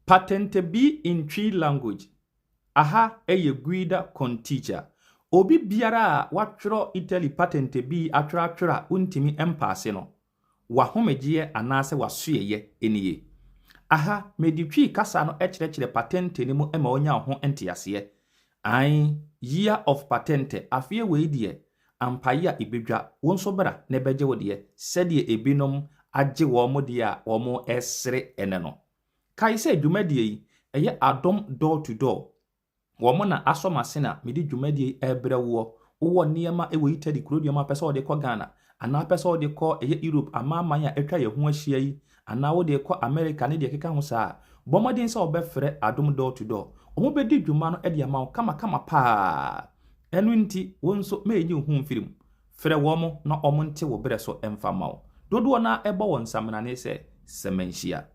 Patente bi in Twi language, aha yɛ guida con teacher. Obi biara a watwerɛ Italy patente bi atwerɛatwerɛ a wontumi mpaase no, w'ahomegyeɛ anaasɛ w'asoɛeɛ nie. Aha mede Twi kasa no kyerɛkyerɛ patente no mu ma wonya ho nteaseɛ. Ae, year of patente, afeɛ wei deɛ, ampa yea ebedwa, wo nso bra na bɛgye wo deɛ, sɛdeɛ ebinom agye wɔn deɛ a wɔresere ɛnnɛ no. Kae sɛ dwumadie yi, ɛyɛ adom door to door, wɔn na asɔ m'asen a mede dwumadie yi rebrɛ woɔ, wowɔ nneɛma wɔ Italy kuroduam a wopɛ sɛ wode kɔ Ghana, anaa wopɛ sɛ wode kɔ ɛyɛ Europe amanaman a atwa yɛn ho ahyia yi anaa wo deɛ kɔ America ne deɛ ɛkeka ho saa a, bɔ mmɔden sɛ wɔbɛfrɛ Adom Door to Door. Wɔbɛdi dwuma no de ama wo kamakama paa. Ɛno nti, wo nso ma ɛnyi wo ho mfiri mu. Frɛ wɔn na wɔnte wo berɛ so mfa mma wo. Dodoɔ no ara bɔ wɔn saminane sɛ, Sɛ manhyia.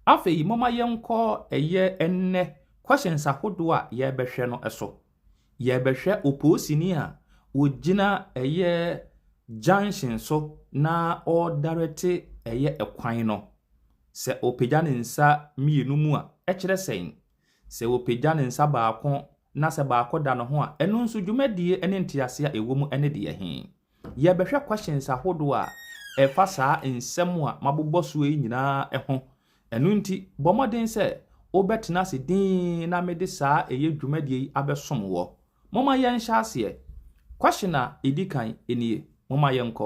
Afei momma yɛnkɔ ɛyɛ ɛnnɛ questions ahodoɔ a yɛrebɛhwɛ no so. Yɛrebɛhwɛ opoosini a ɔgyina ɛyɛ junction so na ɔredarɛte ɛyɛ kwan no. Sɛ ɔpagya ne nsa mmienu mu a, ɛkyerɛ sɛn? Sɛ ɔpagya ne nsa baako na sɛ baako da ne ho a, ɛno nso dwumadie ne nteaseɛ a ɛwɔ mu ne deɛ he? Yɛrebɛhwɛ questions ahodoɔ a ɛfa saa nsɛm a mabobɔ soɔ yi nyinaa ho. Ɛno nti, bɔ mmɔden sɛ wobɛtena ase dinn na mede saa ɛyɛ dwumadie yi abɛsom woɔ. Momma yɛnhyɛ aseɛ. Question a ɛdi kan nie. Momma yɛnkɔ.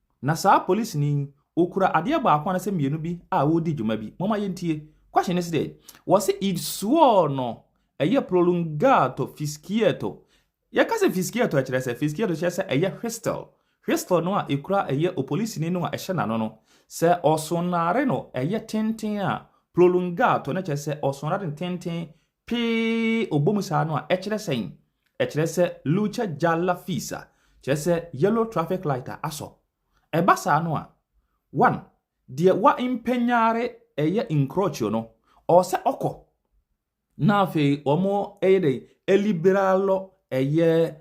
Na saa polisini yi, ɔkura adeɛ baako anasɛ mmienu bi a ɔredi dwuma bi. Momma yɛntie. Question no sɛ, wɔse il suo no ɛyɛ prolungato, fischietto. Yɛka sɛ fischietto a, ɛkyerɛ sɛ, fischietto kyerɛ sɛ ɛyɛ whistle. Whistle no a ɛkura ɛyɛ opolisini no a ɛhyɛ n'ano no, sɛ ɔsonare no ɛyɛ tenten a, prolungato, na kyerɛ sɛ ɔsonare no tenten Pee, Ɔbɔ mu saa no a, ɛkyerɛ sɛn? Ɛkyerɛ sɛ Luce Gialla Fissa, kyerɛ sɛ yellow traffic light a asɔ. Ɛba saa no a, one, deɛ wa impegnare ɛyɛ encroachio no, ɔwɔ sɛ ɔkɔ, na afei wɔn ɛyɛ dɛn, eliberalo ɛyɛ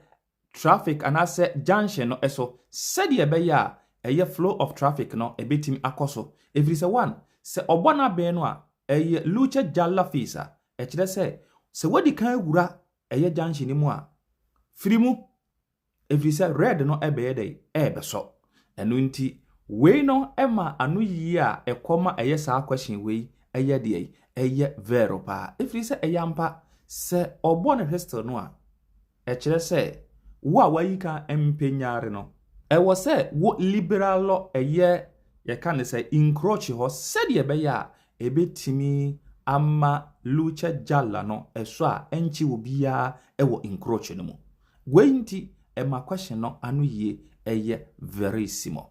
traffic anaasɛ junction no so sɛdeɛ ɛbɛyɛ a ɛyɛ flow of traffic no ɛbɛtumi akɔ so ɛfiri sɛ one sɛ ɔbɔ n'abɛn no a ɛyɛ luce gialla phase a ɛkyerɛ sɛ sɛ wadi kan awura ɛyɛ junction no mu a firi mu ɛfiri sɛ red no ɛbɛyɛ dɛ ɛbɛsɔ ɛno nti wei no ɛma ano yie a ɛkɔ ma ɛyɛ saa question wei ɛyɛ deɛ ɛyɛ vero paa ɛfiri sɛ ɛyɛ ampa sɛ ɔbɔ ne whistle no a Ɛkyerɛ sɛ wo a wayi ka mpɛ nyare no. Ɛwɔ sɛ wo liberal lɔ ɛyɛ yɛka no sɛ encroach hɔ sɛdeɛ ɛbɛyɛ a ɛbɛtumi ama lucha jalla no ɛsɔ a ɛnkye obiara ɛwɔ encroach no mu. Wei nti ɛma question no ano yie ɛyɛ verissimo.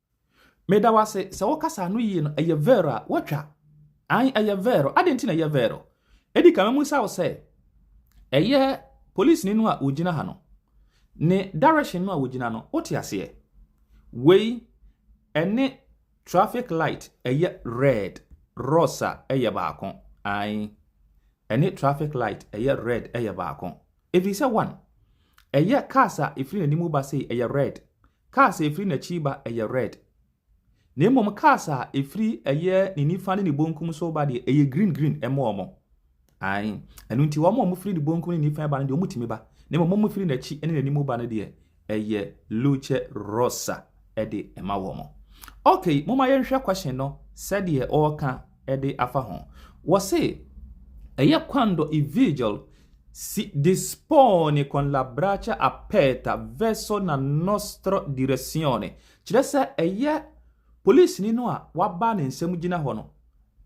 Meda wo ase sɛ wo kasa no yie no ɛyɛ vero a watwa an ɛyɛ vero adɛn nti na ɛyɛ vero ɛdi ka mɛmu sa wo sɛ ɛyɛ polisi ni no a wɔgyina ha no ne direction no a wɔgyina no wote aseɛ wei ɛne traffic light ɛyɛ red rosa ɛyɛ baako an ɛne traffic light ɛyɛ red ɛyɛ baako ɛfiri sɛ one ɛyɛ cars a ɛfiri n'anim ba sei ɛyɛ red Cars a ɛfiri n'akyi reba yɛ red, na mmom cars a ɛfiri ɛyɛ ne nifa ne ne bonkum so reba deɛ, ɛyɛ green green ɛma wɔn. Ae, ɛno nti wɔn a wɔfiri ne bonkum ne nifa reba no deɛ, wɔtumi ba, na mmom wɔn a wɔfiri n'akyi ne n'anim reba no deɛ, ɛyɛ luce rosa de ɛma wɔn. Ok, momma yɛnhwɛ question no sɛdeɛ ɔreka de afa ho. Wɔse, ɛyɛ quando i vigil Si dispone con la braccia aperta verso la nostra direzione, kyerɛ sɛ ɛyɛ polisini no a waba ne nsam gyina hɔ no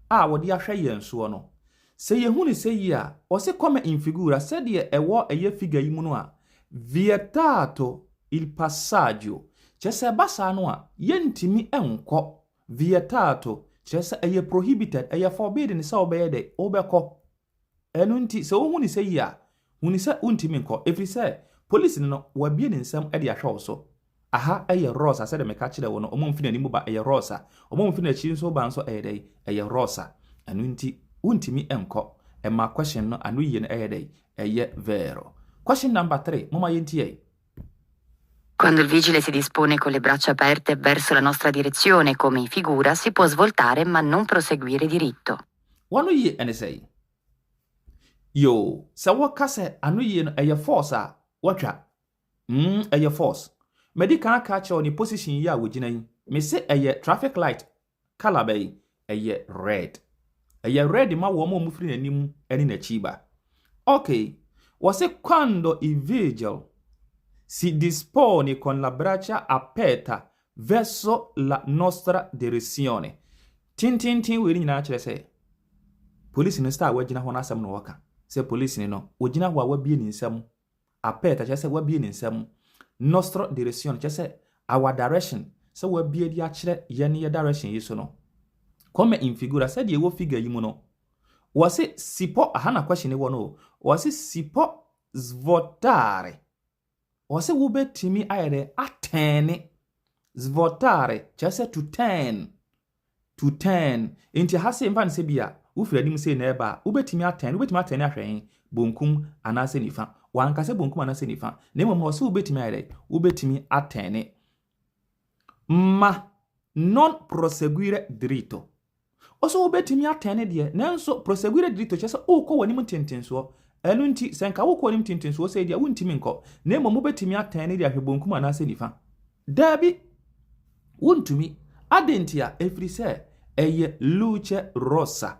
a wɔde ahwɛ yɛn soɔ no. Sɛ yɛhu no sɛ yie a, ɔse come in figura, sɛdeɛ ɛwɔ ɛyɛ figure yi mu no a, vietato il passaggio, kyerɛ sɛ ɛba saa no a, yɛntumi nkɔ, vietato, kyerɛ sɛ ɛyɛ prohibited, ɛyɛ forbidden sɛ wobɛyɛ dɛn, wobɛkɔ. Ɛno nti, sɛ wohu no sɛ yie a, hu no sɛ wontumi nkɔ, ɛfiri sɛ polisini no, wabue ne nsam de ahwɛ wo so. Aha yɛ Rosa, sɛdeɛ meka kyerɛɛ wo no, wɔmfi n'anim ba, ɛyɛ Rosa, wɔmfi n'akyi nso ba nso, ɛyɛ dɛn? Ɛyɛ Rosa. Ɛno nti, wontumi nkɔ. Ɛma question no ano yie no ɛyɛ dɛn? Ɛyɛ vero. Question number three, momma yɛntie. Quando il vigile si dispone con le braccia aperte verso la nostra direzione, come in figura, si può svoltare ma non proseguire diritto. W'anoyie ne sɛn? Yoo, sɛ woka sɛ anoyie no ɛyɛ force a, woatwa. Mm, ɛyɛ force. Madi kan aka akyerɛ wo ne position yi a wogyina yi. Mese ɛyɛ traffic light colour bɛn? Ɛyɛ red. Ɛyɛ red ma wɔn a wɔfiri n'anim ne n'akyi ba. Okay, wɔse quando i vigil si dispone con la braccia aperta Verso la nostra direzione, Tenteenten wei no nyinaa kyerɛ sɛ polisini no sɛ a wagyina hɔ no asɛm na ɔreka. Sɛ polisini no, ɔgyina hɔ a wabue ne nsa mu. Aperta kyerɛ sɛ wabue ne nsa mu. Nostra direzione kyerɛ sɛ our direction, sɛ wabue de akyerɛ yɛn ne yɛn direction yi so no. Come in figura, sɛdeɛ ɛwɔ figure yi mu no. Wɔse si può, aha na question no wɔ no o. Wɔse si può svuotare, Wɔse wobɛtumi ayɛ dɛ atɛɛne, svotare, kyerɛ sɛ to turn, to turn. Nti ha se mfa no sɛ bi a wofiri anim sei na ɛreba a, wobɛtumi atɛɛne, wobɛtumi atɛɛne ahwɛ he? Bonkum anaasɛ nifa? Wanka sɛ bonkum anaasɛ nifa, na mmom ɔse wobɛtumi ayɛ dɛ, wobɛtumi atɛɛne. Ma non proseguire diritto. Ɔsɛ wobɛtumi atɛn ne deɛ, nanso proseguire diritto kyerɛ sɛ wokɔ w'anim ntentensoɔ. Ɛno nti, sɛ nka wokɔ w'anim ntentensoɔ sei deɛ, wontumi nkɔ, na mmom wobɛtumi atɛn ne deɛ ahwɛ bonkum anaasɛ nifa. Daabi, wontumi. Adɛn ntia? Ɛfiri sɛ, ɛyɛ luce rossa.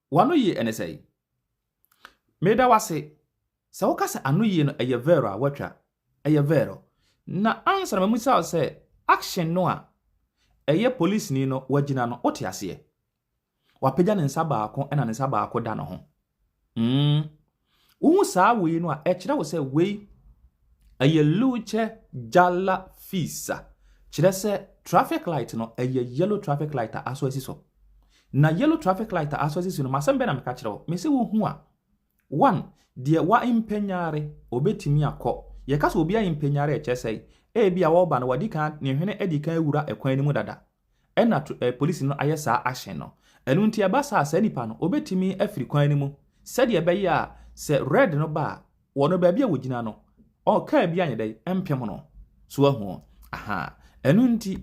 W'anoyie ɛne sɛn? Meda wo ase. Sɛ woka sɛ anoyie no ɛyɛ vero a woatwa. Ɛyɛ vero. Na ansa na mabisa wo sɛ action no a ɛyɛ polisini no wagyina no wote aseɛ? Wapagya ne nsa baako ɛna ne nsa baako da ne ho. Umm Wohu saa wei no a, ɛkyerɛ wo sɛ wei ɛyɛ luce gialla fissa, kyerɛ sɛ traffic light no ɛyɛ yellow traffic light a asɔ asi so. Na yellow traffic light a asɔ asi so no, masɛm bɛn na meka kyerɛ wo? Mese wohu a, one, deɛ waimpanyare ɔbɛtumi akɔ. Yɛka sɛ obi aimpanyare a ɛkyerɛ sɛ ebi a ɔreba no wadi kan, ne hwene adi kan awura ɛkwan no mu dada. Ɛna to eh polisi no ayɛ saa ahyɛn no. Ɛno nti ɛba saa a saa nipa no obetumi afiri kwan no mu sɛdeɛ ɛbɛyɛ a sɛ red no ba a wɔ no baabi a wɔgyina no ɔ car bi anyɛ dɛn mpem no. So wahu o? Aha. Ɛno nti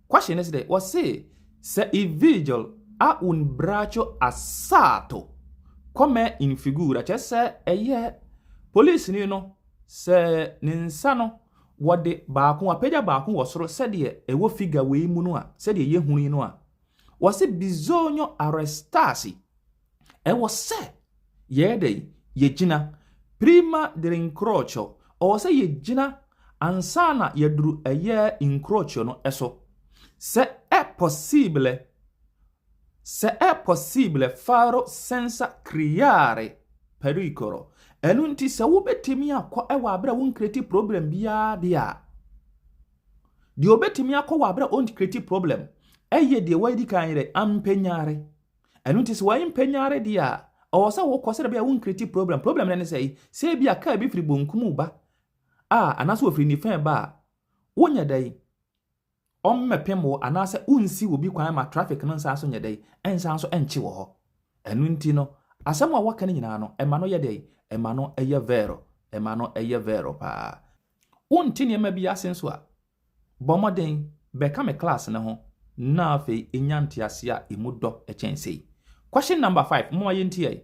question no sɛ wɔse sɛ i vigil a un braço assalto come in figura kyerɛ sɛ ɛyɛ polisi ni no sɛ ne nsa no Wɔde baako, wɔapagya baako wɔ soro sɛdeɛ ɛwɔ figure wei mu no a, sɛdeɛ yɛhunu yi no a, wɔse bisogno arrestarsi, ɛwɔ sɛ yɛyɛ dɛ yɛgyina, prima dell'incrocio, ɔwɔ sɛ yɛgyina ansa na yɛduru ɛyɛ incrocio no so, sɛ ɛ possibile, Sɛ ɛ possible faro sensa criare pericolo, ɛno nti sɛ wobɛtumi akɔ wɔ aberɛ a wo nkreti problem biara deɛ a, deɛ obɛtumi akɔ wɔ aberɛ a ɔnkreti problem ɛyɛ deɛ wɔadi kan yɛ dɛ ampanyare. Ɛno nti sɛ wɔmpanyare deɛ a, ɔwɔ sɛ wokɔ sɛ bɛyɛ wo nkreti problem. Problem no ne sɛ, sɛ ebi a kaa bi firi bonkum ba a, anaasɛ wɔfiri nifɛn ba a, wonyɛ dɛn? Wɔmmɛpem wo anaasɛ wonnsi wo bi kwan ma traffic no nsan so nyɛ dɛn, nsan so nkye wɔ hɔ. Ɛno nti no, asɛm a wɔka no nyinaa no, ɛma no yɛ dɛn? Ɛma no yɛ vero, ɛma no yɛ vero paa. Wonte nneɛma bi ase nso a, bɔ mmɔden bɛka me class no ho na afei nya ntease a emu dɔ kyɛn sei. Question number five, momma yɛntie.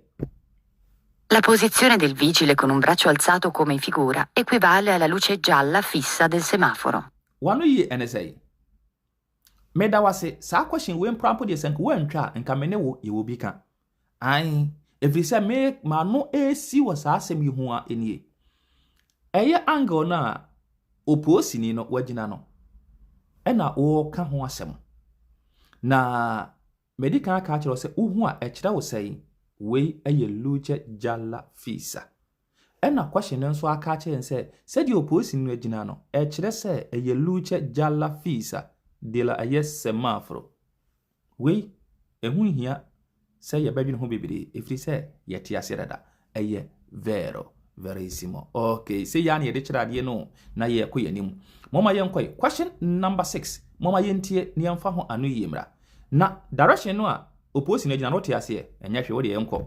La posizione del vigile con un braccio alzato come in figura equivale alla luce gialla fissa del semaforo. Wano yie ɛne sɛn? Meda wo ase, saa question wei mporampo deɛ sɛ nka woantwa a, nka me ne wo yɛwɔ bi ka. Ae, ɛfiri sɛ me m'ano resi wɔ saa asɛm yi ho ara nie. Ɛyɛ angle no a opoosini no wagyina no ɛna wɔreka ho asɛm. Na madi kan aka akyerɛ wo sɛ wohu a ɛkyerɛ wo sɛn? Wei yɛ Luce Jalla Fisa. Ɛnna Kɔhye no nso aka akyerɛ no sɛ, sɛdeɛ opolisi no agyina no, ɛkyerɛ sɛ ɛyɛ Lucha ya la fiisa de la ɛyɛ semaforo. Wei, ɛho nhia sɛ yɛbɛdwene ho bebree, ɛfiri sɛ yɛte aseɛ dada. Ɛyɛ Vero, Verissimo. Okay, sei ara na yɛde kyerɛ adeɛ no o, na yɛrekɔ yɛn anim. Momma yɛnkɔe. Question number six, momma yɛntie na yɛmfa ho ano yie mmra. Na direction no a opolisi no agyina no, wote aseɛ? Ɛnyɛ hwee, wo deɛ yɛnkɔ.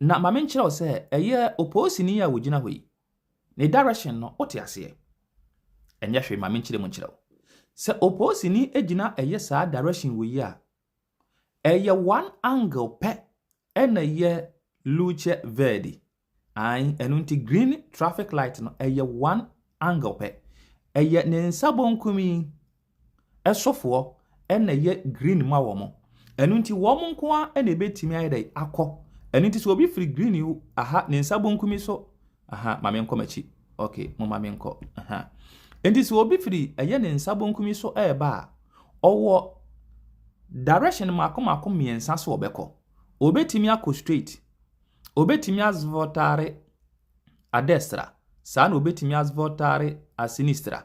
Na ma menkyerɛ wo sɛ ɛyɛ opoosini a ogyina hɔ yi, ne direction no wote aseɛ? Ɛnyɛ hwee ma menkyerɛ mu nkyerɛ wo. Sɛ opoosini gyina ɛyɛ saa direction wei a, ɛyɛ one angle pɛ ɛna ɛyɛ luce verde. Ae, ɛno nti green traffic light no ɛyɛ one angle pɛ. Ɛyɛ ne nsa bonkum yi ɛsofoɔ na ɛyɛ green ma wɔn. Ɛno nti wɔn nko ara na ɛbɛtumi ayɛ dɛ akɔ. Ɛno nti sɛ obi firi green yi aha ne nsa bonkum yi so aha ma menkɔ m'akyi ok mo ma menkɔ aha nti sɛ obi firi ɛyɛ ne nsa bonkum yi so ɛreba a ɔwɔ direction mako mako mmiɛnsa so ɔbɛkɔ. Obɛtumi akɔ straight, obɛtumi azvotare adestra, saa na obɛtumi azvotare asinistra.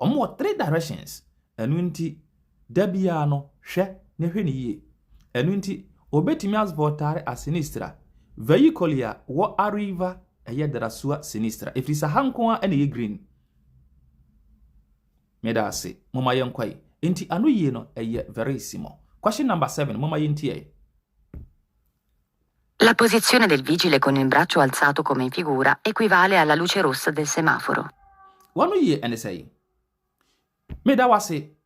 Wɔn wɔ three directions ɛno nti da biara no hwɛ na hwɛ no yie ɛno nti obetumi as voltare a sinistra vehicoli a wɔ arriva ɛyɛ drasua sinistra ɛfiri sɛ ha nko ara na ɛyɛ green meda ase moma yɛn kɔ yi nti ano yie no ɛyɛ verissimo question number seven moma yɛn ti yɛ. La posizione del vigile con il braccio alzato come in figura equivale alla luce rossa del semaforo. W'ano yie ɛne sɛn? Meda wo ase.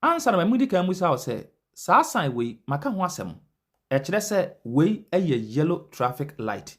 Ansa na madi kan ammisa wo sɛ, saa sign wei, maka ho asɛm. Ɛkyerɛ sɛ wei yɛ yellow traffic light.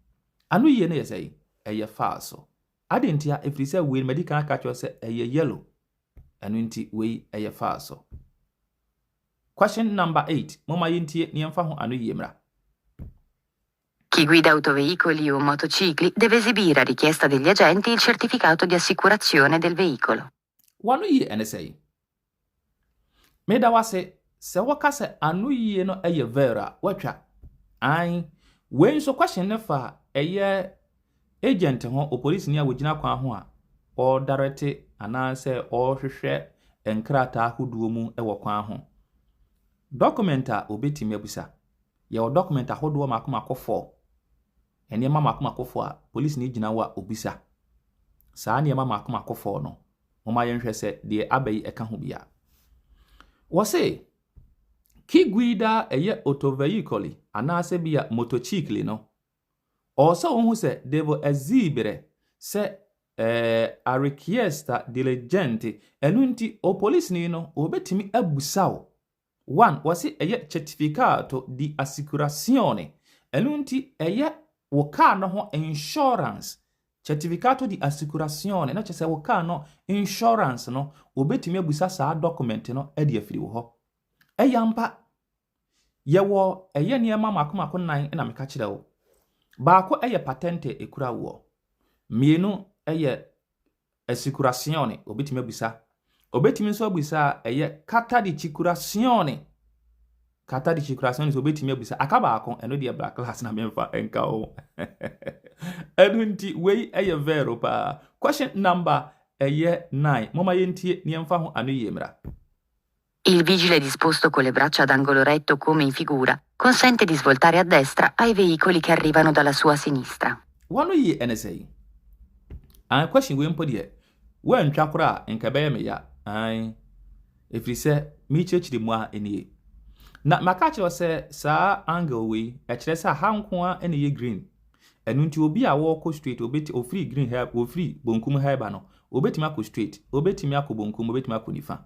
Anoyie no yɛ sɛn? Ɛyɛ faa so. Adɛn ntia? Ɛfiri sɛ wei no madi kan aka akyerɛ sɛ ɛyɛ yellow. Ɛno nti wei ɛyɛ faa so. Question number eight. Momma yɛntie na yɛmfa ho anoyie mmra. Chi guida autoveicoli o motocicli deve esibire a richiesta degli agenti il certificato di assicurazione del veicolo. W'ano yie ɛne sɛn? Meda wo ase sɛ woka sɛ ano yie no ɛyɛ ver a woatwa. Ae, wei nso question no fa ɛyɛ agent ho, opolisini a wogyina kwan ho a ɔɔdarɛte anaasɛ ɔɔhwehwɛ nkrataa ahodoɔ mu wɔ kwan ho. Document a obetumi abusa, yɛwɔ document ahodoɔ mako mako four. Nneɛma mmakommakofɔɔ a polisini gyina hɔ a ɔbisa. Saa nneɛma mmakommakofɔɔ no, momma yɛnhwɛ sɛ deɛ aba yi ɛka ho bi a. Wɔse, Ki guida eye otoveicoli anaasɛ bi a motocicli no, ɔwɔ sɛ wohu sɛ devo exibire sɛ eh, a richiesta diligente, ɛno nti, o polisini no, ɔbɛtumi abusa wo One, wɔse ɛyɛ certificado de asicuracione, ɛno nti ɛyɛ wo kaa no ho insurance, certificado de asicuracione, na kyerɛ sɛ wo kaa no insurance no, wɔbɛtumi abusa saa document no de afiri wo hɔ. Ɛyɛ ampa, yɛwɔ ɛyɛ nneɛma mako mako nan na meka kyerɛ wo. Baako ɛyɛ patente ɛkura woɔ, mmienu ɛyɛ Asikuraseɔne, ɔbɛtumi abisa. Ɔbɛtumi nso abisa a ɛyɛ katadikyikuraseɔne. Katadikyikuraseɔne nso ɔbɛtumi abisa. Aka baako, ɛno deɛ bra class na memfa nka wo. Ɛno nti, wei ɛyɛ vɛro paa. Question number ɛyɛ nine. Moma yɛntie na yɛmfa ho anoyie mmra. Il vigile disposto con le braccia ad angolo retto come in figura consente di svoltare a destra ai veicoli che arrivano dalla sua sinistra. Wano yie ɛne sɛi? Aane question wei mpo deɛ woantwa koraa a nka ɛbɛyɛ me ya aane ɛfiri sɛ merekyerɛkyerɛ mu ara nie na maka akyerɛ wo sɛ saa angle wei ɛkyerɛ sɛ aha nko ara na ɛyɛ green ɛno nti obi a wɔrekɔ straight obɛti ofiri green ha ofiri bonkum ha ɛba no obɛtumi akɔ straight obɛtumi akɔ bonkum obɛtumi akɔ nifa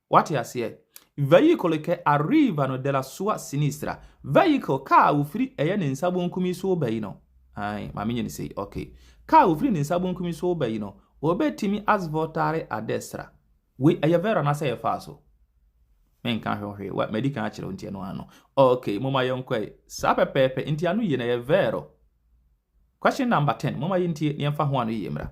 Wate aseɛ? Veículo que arriva no de la sua sinistra, veículo, kaa a ɔfiri ɛyɛ ne nsa bonkum yi so reba yi no, ae, ma menyɛ no sei, ok, kaa a ɔfiri ne nsa bonkum yi so reba yi no, ɔbɛtumi as voltare à destra. Wei, ɛyɛ verbo anaasɛ ɛyɛ faa so? Menka ho hwee, wa, madi kan akyerɛ wo nti ɛno ara no. Ok, momma yɛnkɔ ɛ. Saa pɛpɛɛpɛ, nti anoyie no ɛyɛ verbo. Question number ten, momma yɛntie na yɛmfa ho anoyie mmra.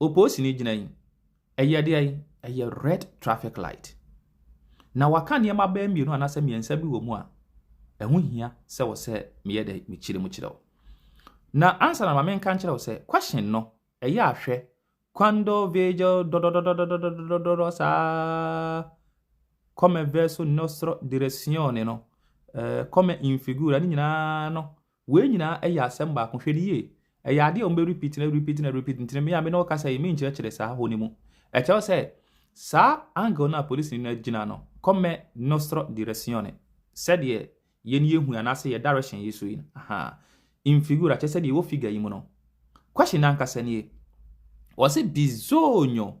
Oposi no gyina yi, ɛyɛ deɛn? Ɛyɛ red traffic light. Na waka nneɛma bɛyɛ mmienu anaasɛ mmiɛnsa bi wɔ mu a, ɛho hia sɛ wɔ sɛ meyɛ dɛ mekyerɛ mu kyerɛ wo. Na ansa na ma menka nkyerɛ wo sɛ question no ɛyɛ ahwɛ quando vejo dododododododododoro saa come verso nostro direzione no eh, come in figura ne nyinaa no Wei nyinaa yɛ asɛm baako. Hwɛ no yie. Ɛyɛ adeɛ a wɔbɛrepeat na repeat na repeat nti no me a me ne wo kasa yi menkyerɛkyerɛ saa hɔ no mu. Ɛkyɛw sɛ saa angle no a polisini no agyina no come nostro direzione, sɛdeɛ yɛn yɛhu yi anaasɛ yɛn direction yi so yi no, ahaa, in figura, kyerɛ sɛ deɛ ɛwɔ figure yi mu no. Question no ankasa nie. Ɔse bisogno.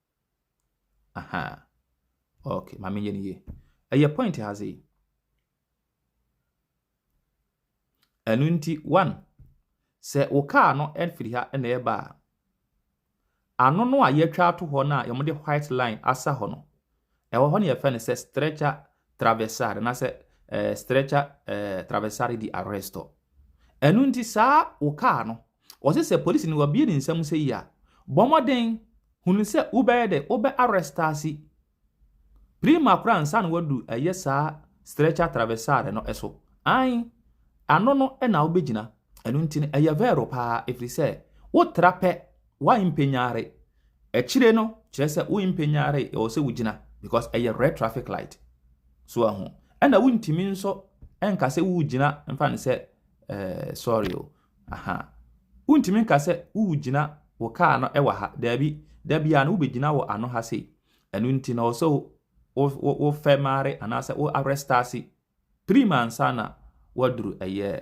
Ahaa. Okay, ma menyɛ no yie. Ɛyɛ point ha sei. Ɛno nti, one, sɛ wo kaa no firi ha na ɛreba a, ano no a yɛatwa ato hɔ no a wɔde white line asa hɔ no, Ɛwɔ hɔ no yɛfrɛ no sɛ stretcher traversar anaasɛ eh, stretcher eh, traversar di arresto. Ɛno nti saa wo kaa no, wɔse sɛ polisi no wabie ne nsam sɛ yi a, bɔ mmɔden hunu sɛ wobɛyɛ dɛ wobɛ arrestasi prima koraa nsa na wadu ɛyɛ saa stretcher traversar no so. An, ano no na wobɛgyina. Ɛno nti no ɛyɛ vero paa ɛfiri sɛ wotra pɛ woampɛnyare Akyire no kyerɛ sɛ wo mpanyare ɛwɔ sɛ wo gyina because ɛyɛ red traffic light so ahu ɛna wo ntumi nso ɛnka sɛ wo gyina mfa ne sɛ eh, sorry o aha wo ntumi nka sɛ wo gyina wo kaa no ɛwɔ ha daabi da biara no wobɛgyina wɔ ano ha sei ɛno nti na ɔsɛ wo fɛ mare anaasɛ wo arestase prim ansa na waduru ɛyɛ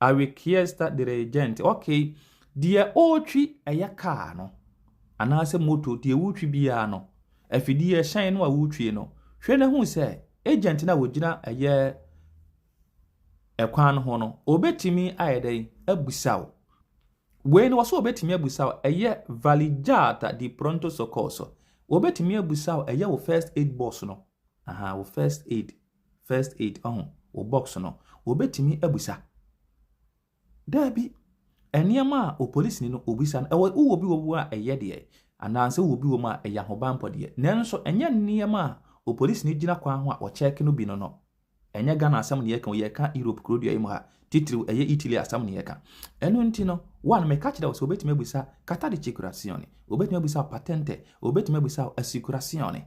I requesta dirigente. Okay, deɛ ɔretwi ɛyɛ kaa no anaasɛ moto deɛ wotwi biara no afidie ɛhyɛn no a wotwi no hwɛ na hu sɛ agent no a wɔgyina ɛyɛ ɛkwan no ho no ɔbɛtumi ayɛ dɛn abusaw wei no wɔsɛ ɔbɛtumi abusaw ɛyɛ valijata di pronto socorso ɔbɛtumi abusaw ɛyɛ wo first aid box no aha wo first aid First aid ɔho wo box no, wɔbɛtumi abisa. Daabi, nneɛma a opolisinii no ɔbisa no, ɛwɔ wowɔ bi wɔ mu a ɛyɛ deɛ, anaasɛ wowɔ bi wɔ mu a ɛyɛ ahobanpɔ deɛ. Nanso ɛnyɛ nneɛma a opolisinii gyina kwan ho a ɔkyɛɛke no bi no no. Ɛnyɛ Ghana asɛm na yɛreka o, yɛreka Europe kurodua yi mu ha, titiriw ɛyɛ Italy asɛm na yɛreka. Ɛno nti no, one, meka kyerɛ wo sɛ wɔbɛtumi abisa carta di circulazione, wɔbɛtumi abisa wo patente, wɔbɛtumi abisa wo assicurazione.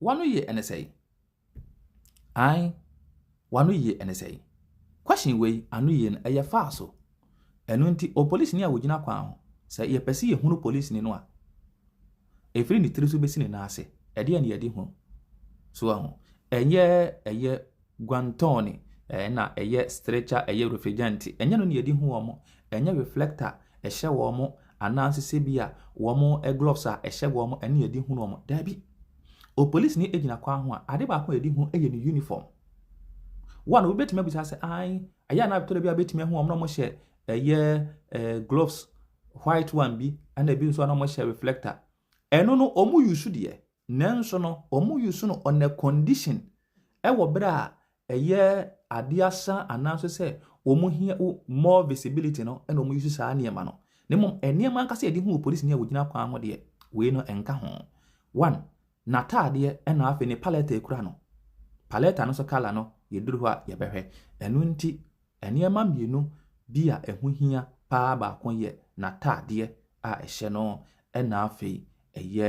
W'ano ye ɛne sɛe? Ae, w'ano ye ɛne sɛe? Question wei ano ye no ɛyɛ faa so. Ɛno nti o polisini a wogyina kwan ho, sɛ yɛpɛ se yɛhunu polisini no a, ɛfiri ne tiri so bɛsi ne nan ase, ɛdeɛn na yɛde hunu? So wahu? Ɛnyɛ ɛyɛ. Guantone, ɛɛ, na ɛyɛ stretcher, ɛyɛ refrigerant. Ɛnyɛ no na yɛde hu wɔn. Ɛnyɛ reflector a ɛhyɛ wɔn anaasɛ sɛbia wɔn gloves a ɛhyɛ wɔn ɛne yɛde hu wɔn. Daabi. Opolisini gyina kwan ho a, ade baako a yɛde hu yɛ ne uniform. Wɔn a wobɛtumi abisa sɛ, ae, ɛyɛ anaa tɔrɔ bi a bɛtumi ahu wɔn na wɔhyɛ ɛyɛ ɛɛ gloves white one bi ɛna ebi nso a na wɔhyɛ reflector. Ɛno no wɔn yusu deɛ Nanso no, wɔn use no on a condition wɔ berɛ a ɛyɛ adeɛ asa anaasɛ sɛ wɔn hia more visibility no na wɔn use saa nneɛma no. Na mmom nneɛma ankasa yɛde hu polisini a wɔgyina kwan ho deɛ, wei no nka ho. One, n'ataadeɛ ɛna afei ne palɛta a ɛkura no. Palɛta no nso kala no yɛduru hɔ a yɛbɛhwɛ. Ɛno nti nneɛma mmienu bi a ɛho hia paa baako yɛ n'ataadeɛ a ɛhyɛ no ɛna afei ɛyɛ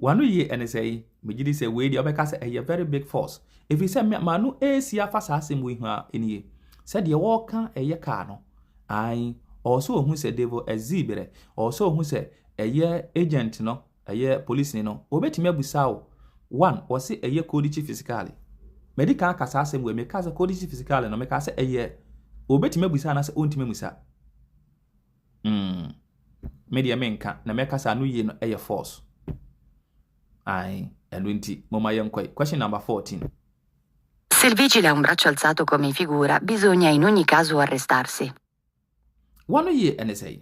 W'ano yie ɛne sɛ yi? Megye di sɛ wei deɛ wobɛka sɛ ɛyɛ very big force ɛfiri sɛ me m'ano ɛresi afa saa asɛm wei ho ara nie. Sɛ deɛ wɔreka ɛyɛ car no, ae, ɔwɔ sɛ ɔhu sɛ Devil Azii berɛ, ɔwɔ sɛ ɔhu sɛ ɛyɛ agent no, ɛyɛ polisini no, ɔbɛtumi abusa wo, one, wɔse ɛyɛ Codice Fiscale, madi kan aka saa asɛm wei, mekaa sɛ Codice Fiscale no, mekaa sɛ ɛyɛ, ɔbɛtumi abusa anaasɛ ɔntumi amusa. Mm, me deɛ menka na mɛka sɛ ano yie no yɛ force. Ae, ɛno nti moma yɛnkɔe. Question number 14. Se il vigile ha un braccio alzato come figura, bisogna in ogni caso arrestarsi. Wano yie ɛne sɛe?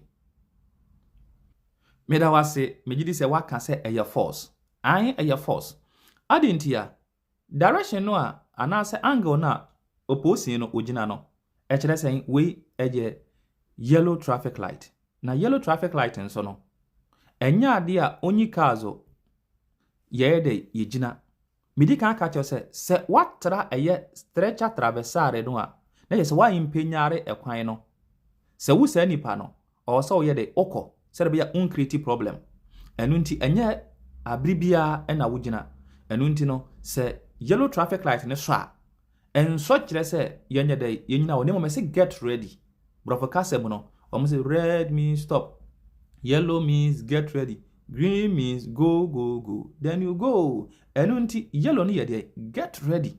Meda wo ase, megye di sɛ woaka sɛ ɛyɛ force. Ae, ɛyɛ force. Ade nti a, Direction no a anaasɛ angle no a opposing no ogyina no, ɛkyerɛ sɛn? Wei yɛ yellow traffic light, na yellow traffic light nso no, ɛnyɛ adeɛ a onyi kaa so yɛyɛ dɛ yɛgyina. Medi kan aka kyerɛ sɛ, sɛ woatra ɛyɛ stretcher traversare no a, na kyerɛ sɛ woampanyare ɛkwan no. Sɛ wo saa nipa no, Ɔwɔ sɛ woyɛ de wokɔ sɛdeɛ ɛbɛyɛ a wo nkreati problem. Ɛno nti ɛnyɛ abere biara na wogyina. Ɛno nti no sɛ yellow traffic light no sɔ a, ɛnsɔ kyerɛ sɛ yɛnyɛ dɛ yɛnyina hɔ na mmom ɛse get ready. Borɔfo kasa mu no, wɔn se red means stop, yellow means get ready, green means go go go, then you go. Ɛno nti yellow no yɛ deɛ get ready,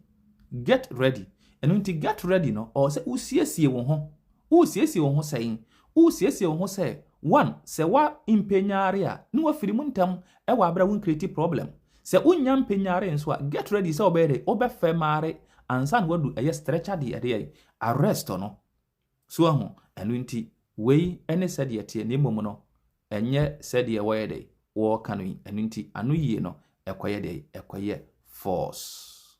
get ready. Ɛno nti get ready no ɔwɔ sɛ wosiesie wo ho Woresiesie wo ho sɛn? Woresiesie wo ho sɛ one sɛ wa mpɛ nyare a ne wa firi mu ntɛm wɔ abere a wo ncreate problem. Sɛ wo nya mpɛ nyare nso a get ready sɛ wo bɛyɛ dɛ wo bɛ fɛ mare ansa na wa du ɛyɛ stretcher de ɛde yɛ arrest no. So wahu? Ɛno nti wei ne sɛdeɛ ɛteɛ na mmom no ɛnyɛ sɛdeɛ wɔyɛ dɛ wɔka no yi. Ɛno nti ano yie no ɛkɔ yɛ dɛ ɛkɔ yɛ force.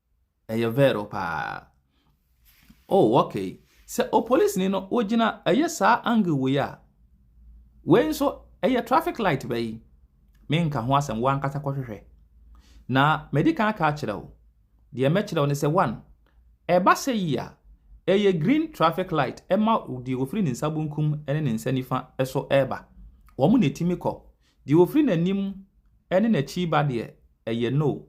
Ɛyɛ Vero paa. Oh okay, sɛ opolicenii no ogyina ɛyɛ saa angle wei a, wei nso ɛyɛ traffic light bɛ yi, me nka ho asɛm wo ankasa kɔ hwehwɛ. Na madi kan aka akyerɛ wo, deɛ mɛkyerɛ wo ne sɛ one, ɛba sɛ yi a, ɛyɛ green traffic light ɛma deɛ ofiri ne nsa bonkum ne ne nsa nifa so ɛreba, wɔn na ɛtumi kɔ, Deɛ ɔfiri n'anim ne n'akyi reba deɛ, ɛyɛ no.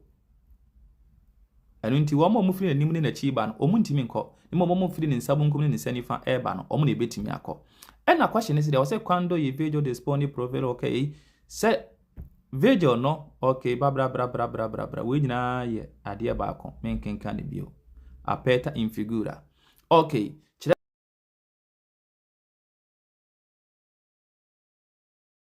Ɛno nti, wɔn a wɔfiri n'anim ne n'akyi reba no, wɔntumi nkɔ. Na mmom wɔfiri ne nsa benkum ne ne nsa nifa reba no, wɔn na ɛbɛtumi akɔ. Ɛna kɔhyɛ no sɛ deɛ ɔsɛ quando y vigil dispone provero ok sɛ vigil no ok babrabrabrabrabrabra wei nyinaa yɛ adeɛ baako menkenka no bio aperta in figura ok kyerɛ